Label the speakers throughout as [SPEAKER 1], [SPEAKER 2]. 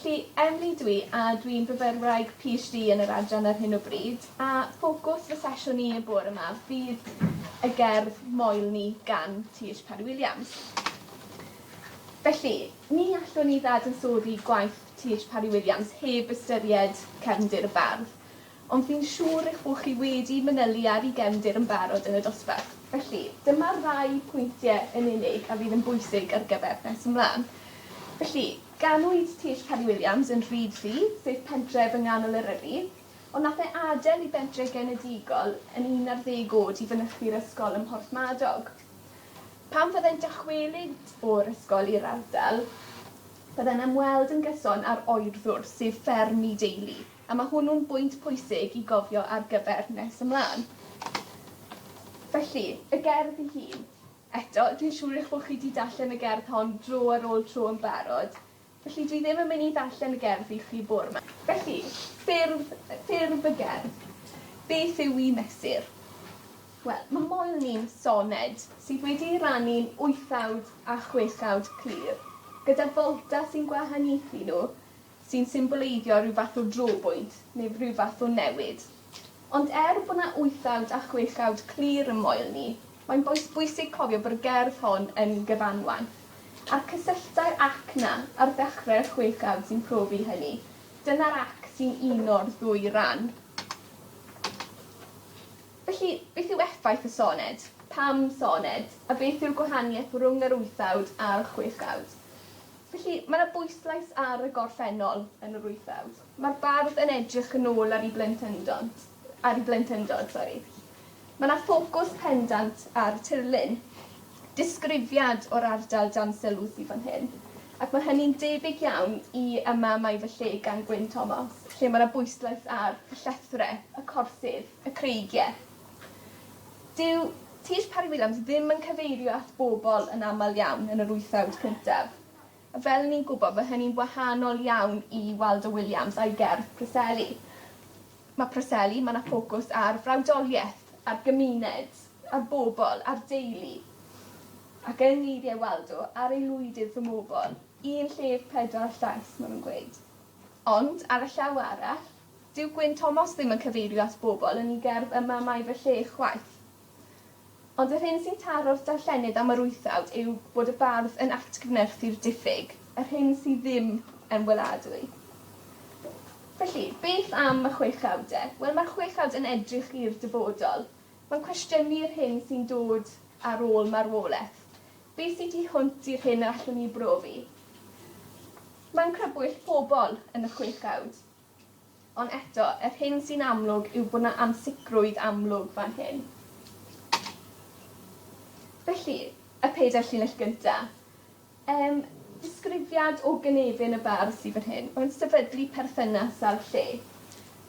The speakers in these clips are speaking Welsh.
[SPEAKER 1] Lle Emily dwi a dwi'n fyfyrwraig PhD yn yr adran ar hyn o bryd a ffocws fy sesiwn i y bore 'ma fydd y gerdd Moel Ni gan TH Parry Williams. Felly, ni allwn ni ddadansoddi gwaith TH Parry Williams heb ystyried Cefndir y Bardd. Ond fi'n siŵr eich bod chi wedi manylu ar i gefndir yn barod yn y dosbarth. Felly, dyma rai pwyntie yn unig a fydd yn bwysig ar gyfer nes ymlan. Felly, Ganwyd Tish Cari Williams yn Rheedley, sef pentref yng nghanol Eryri, ond nath e adael i bentre genedigol yn un ar ddeg oed i fynychu'r ysgol ym Mhorthmadog. Pan fyddai'n dychwelyd o'r ysgol i'r ardal, byddai'n ymweld yn gyson â'r oerddwr, sef fferm ei deulu, a ma' hwnnw'n bwynt pwysig i gofio ar gyfer nes ymlân. Felly, y gerdd ei hun. Eto, dwi'n siŵr eich bod chi 'di darllen y gerdd hon dro ar ôl tro yn barod, felly dwi ddim yn mynd i ddarllen y gerdd i chi bore 'ma. Felly, ffurf, ffurf y gerdd. Beth yw i mesur? Wel, mae Moel Ni'n soned sydd wedi'i rannu'n wythawd a chwechawd clir, gyda folta sy'n gwahaniaethu nhw sy'n symboleiddio rhyw fath o drobwynt neu rhyw fath o newid. Ond er bod 'na wythawd a chwechawd clir ym Moel ni, mae'n bois bwysig cofio bod y gerdd hon yn gyfanwaith, a'r cysylltau'r 'ac' 'na ar ddechrau'r chwechawd sy'n profi hynny. Dyna'r 'ac' sy'n uno'r ddwy ran. Felly, beth yw effaith y soned? Pam soned? A beth yw'r gwahaniaeth rhwng yr wythawd a'r chwechawd? Felly, mae 'na bwyslais ar y gorffennol yn yr wyth awr. Mae'r bardd yn edrych yn ôl ar 'i blentyndod, ar 'i blentyndod, sori. Mae 'na ffocws pendant ar y tirlun. Disgrifiad o'r ardal dan sylw sydd fan hyn, ac mae hynny'n debyg iawn i Yma Mae Fy Lle gan Gwyn Thomas, lle mae 'na bwyslais ar y llethrau, y corsydd, y creigiau. Dyw Tish Parry-Williams ddim yn cyfeirio at bobl yn aml iawn yn yr wythfawd cyntaf. A fel i ni'n gwybod ma' hynny'n wahanol iawn i Waldo Williams a'i gerdd Preseli. Ma' Preseli, ma' 'na ffocws ar frawdolieth, ar gymuned, ar bobl, ar deulu. Ac yng ngeirie Waldo, ar aelwydydd fy mobl, un llef pedwar llais, ma' nw'n gweud. Ond, ar y llaw arall, Dyw Gwyn Thomas ddim yn cyfeirio at bobl yn ei gerdd 'Y Mamau Fy Lle' chwaith. Ond yr hyn sy'n taro'r darllenydd am yr wythawd yw bod y bardd yn atgyfnerthu'r diffyg, yr hyn sydd ddim yn weladwy. Felly, beth am y chwechawd de? Wel, mae'r chwechawd yn edrych i'r dyfodol. Mae'n cwestiynu'r hyn sy'n dod ar ôl marwolaeth. Be' sy' tu hwnt i'r hyn yr allwn ni ei brofi? Mae'n crybwyll pobl yn y chwechawd. Ond eto, yr hyn sy'n amlwg yw bod 'na ansicrwydd amlwg fan hyn. Felly, y pedair llinell gynta'. Yym, disgrifiad o gynefin y bardd sy fan hyn. Mae'n sefydlu perthynas â'r lle.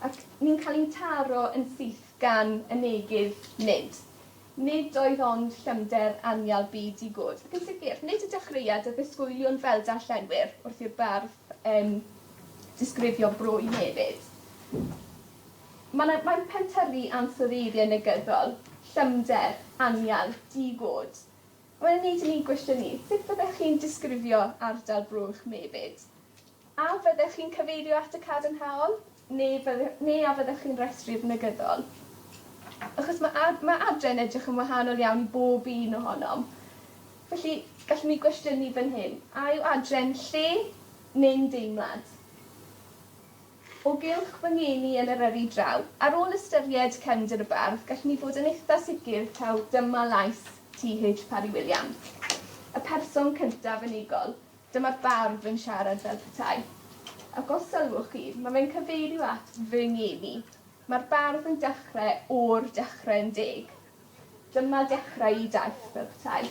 [SPEAKER 1] Ac ni'n cael ein taro yn syth gan y negydd nid. Nid oedd ond llymder anial byd i Gud, ac yn sicr, nid y dechreuad a ddisgwyliwn fel darllenwyr wrth i'r bardd yym disgrifio bro i Nefydd. Ma' 'na mae'n pentyrru ansoddeiriau negyddol, llymder, anial, di-god. A mae'n ei wneud i ni gwestiynu, sut fyddech chi'n disgrifio ardal Bro Uwchmefyd? A fyddech chi'n cyfeirio at y cadarnhaol? Neu fydde- neu a fyddech chi'n restru'r negyddol? Achos ma' ad- ma' adre yn edrych yn wahanol iawn i bob un ohonom. Felly, gallwn ni gwestiynu fan hyn, a yw adre'n lle neu'n deimlad? O gylch fy ngeni yn Eryri draw. Ar ôl ystyried cefndir y bardd, gallwn ni fod yn eitha' sicr taw dyma lais TH Parry Williams. Y person cyntaf yn ei gol. Dyma'r bardd yn siarad fel petai. Ac os sylwch chi, ma' fe'n cyfeirio at fy ngem i. Ma'r bardd yn dechre o'r dechre yn deg. Dyma dechrau 'i daith, fel petai.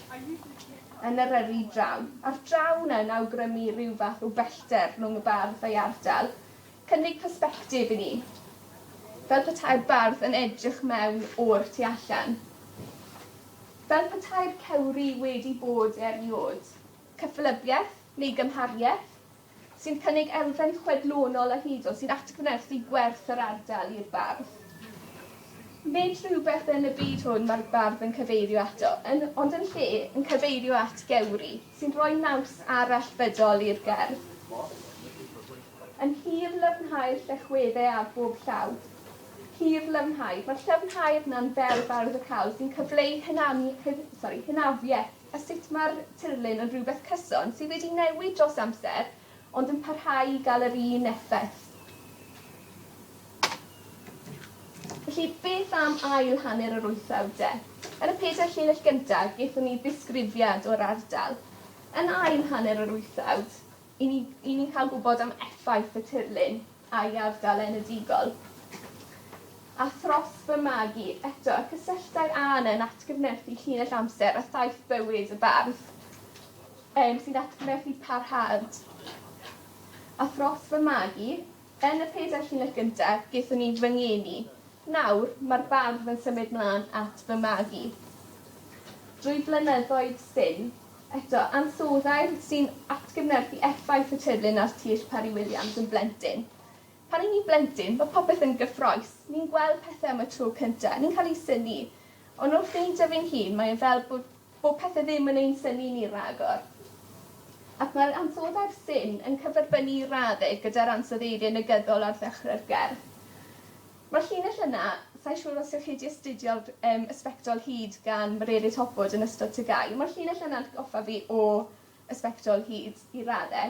[SPEAKER 1] Yn Eryri draw. A'r draw 'na yn awgrymu rhyw fath o bellter rhwng y bardd a'i ardal. Cynnig persbectif i ni. Fel petai'r bardd yn edrych mewn o'r tu allan. Fel petai'r cewri wedi bod erioed. cyffelybiaeth neu gymhariaeth, sy'n cynnig elfen chwedlonol a hudol sy'n atgyfnerthu gwerth yr ardal i'r bardd. Nid rhywbeth yn y byd hwn mae'r bardd yn cyfeirio ato, yn, ond yn lle, yn cyfeirio at gewri, sy'n rhoi naws arall fydol i'r gerdd. Yn hir llyfnhau'r llechwedde ar bob llaw. Hir llyfnhau. Mae'r llyfnhau yna'n ferf arwyddocaol sy'n cyfleu hynanu, hyn, sori, hynafiaeth a sut mae'r tirlun yn rhywbeth cyson sydd wedi newid dros amser ond yn parhau i gael yr un effaith. Felly, beth am ail hanner yr wythfawd de? Yn y pedair llinell gyntaf, gaethon ni ddisgrifiad o'r ardal. Yn ail hanner yr wythfawd, i ni, i ni'n cael gwybod am effaith y tirlun. a'i ardal enedigol. A thros fy magu, eto, y cysylltau a yna yn atgyfnerthu llinell amser a thaith bywyd y bardd, um, sy'n atgyfnerthu parhad. A thros fy magu, yn y pedair llinell gyntaf, gethon ni fy ngeni. Nawr, mae'r bardd yn symud mlaen at fy magu. Drwy flynyddoedd syn, Eto, ansoddair sy'n atgyfnerthu effaith y tirlun ar Tish Parry Williams yn blentyn. Pan y'n ni'n blentyn, mae popeth yn gyffrous, ni'n gweld pethe am y tro cynta, ni'n cael ein synnu. Ond wrth beidio fi'n hun, mae e fel bo' bo' pethe ddim yn ein synnu ni ragor. Ac mae'r ansoddair 'syn' yn cyferbynnu i radde gyda'r ansoddeiriau negyddol ar ddechre'r gerdd. Mae llinell yna, sa i'n siŵr os ewch chi wedi astudio'r yym y sbectol hud gan Mererid Hobwood yn ystod TGAU. Mae'r llinell yna'n atgoffa fi o y sbectol hud i radde.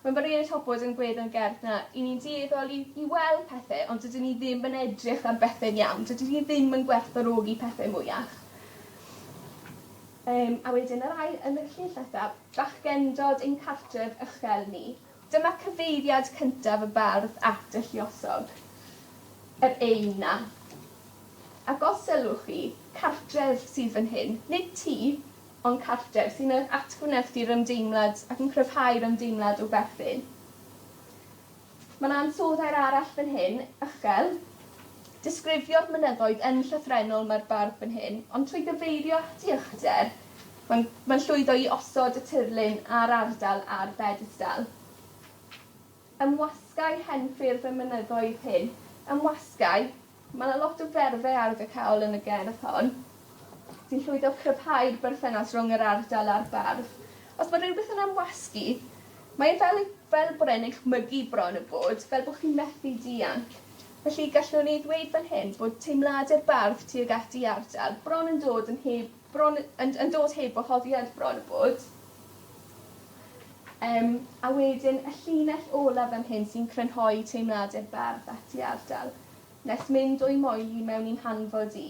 [SPEAKER 1] Mae Mererid Hobwood yn gwedd yn gerdd na i ni'n dueddol i i weld pethe ond dydyn ni ddim yn edrych ar bethe'n iawn. Dydy hi ddim yn gwerthfawrogi pethe mwyach. Yym a wedyn yr ail yn y llinell nesa, bachgendod ein cartref ychel ni. Dyma cyfeiriad cyntaf y bardd at y lluosog, yr eyn 'na. Ac os sylwch chi, cartref sydd fan hyn, nid tŷ, ond cartref, sy'n eich atgwnephd i'r ymdeimlad ac yn cryfhau'r ymdeimlad o berthyn. Mae 'na ansoddair arall fan hyn, uchel. Disgrifio'r mynyddoedd yn llythrennol mae'r bardd fan hyn, ond trwy gyfeirio at ei uchder, Mae'n mae'n llwyddo i osod y tirlun a'r ardal ar bedestal. Ymwasgai henffyrdd y mynyddoedd hyn. Ymwasgai. Mae 'na lot o ferfau arwyddocaol yn y gerdd hon sy'n llwyddo cryfhau'r berthynas rhwng yr ardal a'r bardd. Os ma' rywbeth yn amwasgu mae e fel ei- fel bod e'n echmygu bron a bod fel bo' chi methu dianc. Felly gallwn ni ddweud fan hyn bod teimlade'r bardd tuag at ei ardal bron yn dod yn heb Bron yn yn dod heb wahoddiad bron a bod. Yym a wedyn y llinell ola fan hyn sy'n crynhoi teimlade'r bardd at ei ardal. Nes mynd o'i moel 'i mewn i'n hanfod i.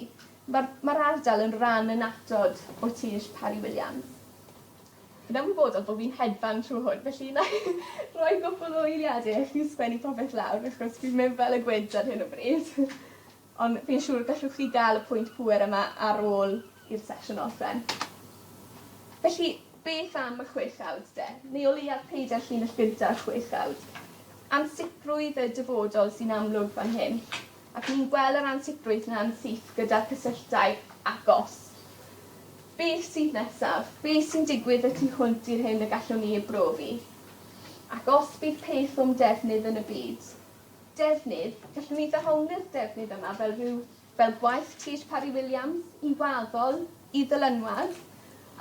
[SPEAKER 1] Ma'r ma'r ardal yn ran annatod o tir Parry Williams. Fi'n ymwybodol bo' fi'n hedfan trw hwn felly 'nai roi gwpwl o eiliade i chi sgwennu popeth lawr achos fi'n mynd fel y gwynt ar hyn o bryd. Ond fi'n siŵr y gallwch chi gael y pwynt pŵer yma ar ôl i'r sesiwn orffen. Felly, beth am y chwechdawd de? Neu o leiaf peidio â'r llinell gynta'r chwechdawd. Ansicrwydd y dyfodol sy'n amlwg fan hyn. Ac ni'n gwel' yr ansicrwydd 'na'n syth gyda'r cysylltau agos. Beth sydd nesaf? Be' sy'n digwydd y tu hwnt i'r hyn y gallwn ni ei brofi? Ac os bydd peth o'm defnydd yn y byd, Defnydd, Gallwn ni ddehongli'r defnydd yma fel rhyw fel gwaith Trish Parry-Williams, i waddol, i ddylanwad,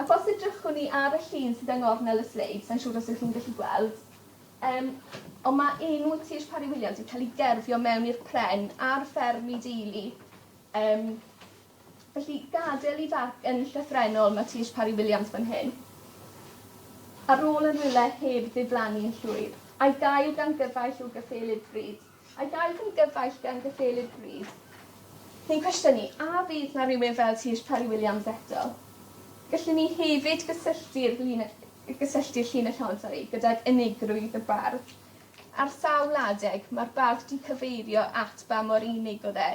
[SPEAKER 1] ac os edrychwn ni ar y llun sydd yng ngornel y sleid, sa'n siŵr os ych chi'n gallu gweld, um, ond mae enw Trish Parry-Williams yn cael ei gerfio mewn i'r pren ar fferm i deulu um, Felly, gadael i farc yn llythrennol ma Tish Parry Williams fan hyn. Ar ôl yn rhywle heb ddiflannu yn llwyr. A'i gael gan gyfaill o gyffelyb fryd. A'i gael gan gyfaill gan gyffelyb fryd. Ni'n cwestiynu, a fydd 'na rywun fel Tish Parry Williams eto? Gallwn ni hefyd gysylltu'r llun y y gysylltu'r llun y llond, sori, gydag unigrwydd y bardd. Ar sawl adeg, ma'r bardd 'di cyfeirio at ba mor unig o'dd e.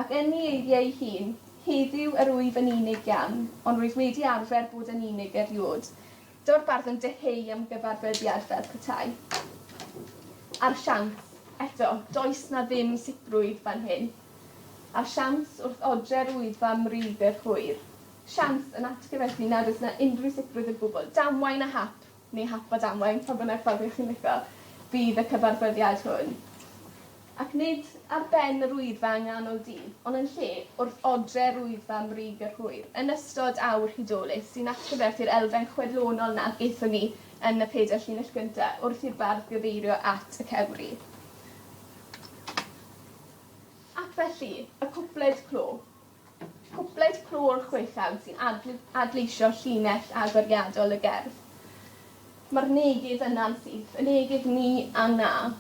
[SPEAKER 1] Ac yn ei eiriau ei hun, Heddiw yr wyf yn unig iawn, ond rwyf wedi arfer bod yn unig erioed. Dyw'r bardd yn dyheu am gyfarfyddiad fel petai. A'r siawns, eto, does 'na ddim sicrwydd fan hyn. A'r siawns, wrth odre'r Wyddfa am rydd yr hwyr. Siawns, yn atgyfethu nad oes 'na unrhyw sicrwydd o gwbl. Damwain a hap! neu hap a damwain, pa bynnag ffordd y'ch chi'n lico, fydd y cyfarfyddiad hwn. Ac nid ar ben yr Wyddfa yng nghanol dydd, ond yn lle, wrth odre'r Wyddfa 'mbrig yr hwyr, yn ystod awr hudolus, sy'n atgyfnerth i'r elfen chwedlonol 'na gaethon ni yn y pedair llinell gynta, wrth i'r bardd gyfeirio at y cewri. Ac felly, y cwpled clo. Cwpled clo'r chweched sy'n adl- adleisio llinell agoriadol y gerdd. Mae'r neges yna'n syth, y neges 'ni' a 'na'.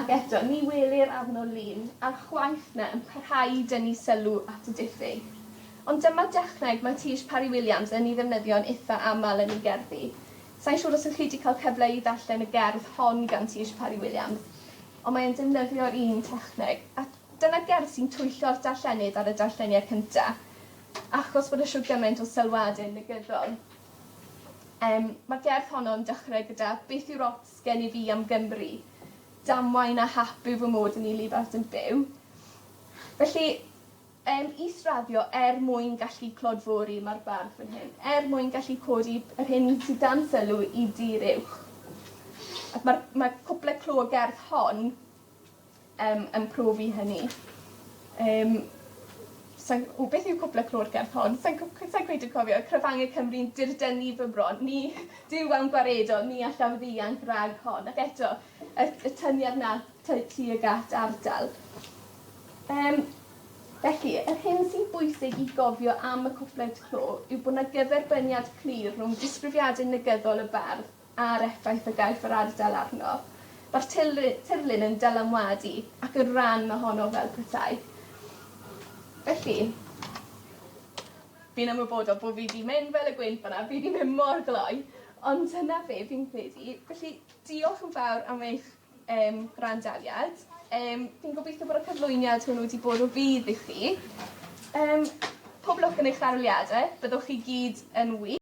[SPEAKER 1] Ac eto, ni welir arno lun ar chwaith na yn parhau i dynnu sylw at y diffyg. Ond dyma dechneg mae Tish Parry-Williams yn ei ddefnyddio'n itha' aml yn ei gerddi. Sai'n siŵr os ych chi wedi cael cyfle i ddarllen y gerdd hon gan Tish Parry-Williams, ond mae e'n defnyddio'r un techneg, a Dyna gerdd sy'n twyllo'r darllenydd ar y darlleniad cynta, achos bod e shwd gymaint o sylwade negyddol. Yym, ma'r gerdd honno'n dechre gyda Beth yw'r ots gen i fi am Gymru? Damwain a hap yw fy mod yn 'i lifart yn byw. Felly, yym, is-raddio er mwyn gallu clodfori, ma'r bardd fan hyn, er mwyn gallu codi yr hyn sydd dan sylw i dir uwch. Ac ma'r ma' cwpla clo y gerdd hon yn profi hynny. Yym sai'n w beth yw cwpla clod gerdd hon sai'n cw- cw- sai'n cweit yn cofio y cyfange Cymru'n dirdynu fy mron ni Duw awn gwaredo ni allaf ddianc rag hon ac eto y y tyniad 'na ty- tuag at ardal. Yym felly yr hyn sy'n bwysig i gofio am y cwpled clo yw bo' 'na gyferbyniad clir rhwng disgrifiade negyddol y bardd a'r effaith y gaiff yr ardal arno. Mae'r tirlu- tirlun yn dylanwadu ac yn ran ohono fel petai. Felly, fi'n ymwybodol bo' fi 'di mynd fel y gwynt fan 'na fi 'di mynd mor gloi ond dyna fe fi'n credu. Felly, diolch yn fawr am eich yym gwrandawiad. Yym fi'n gobitho bod y cyflwyniad hwnnw 'di bod o fudd i chi. Yym pob lwc yn eich aroliade. Byddwch chi gyd yn wych.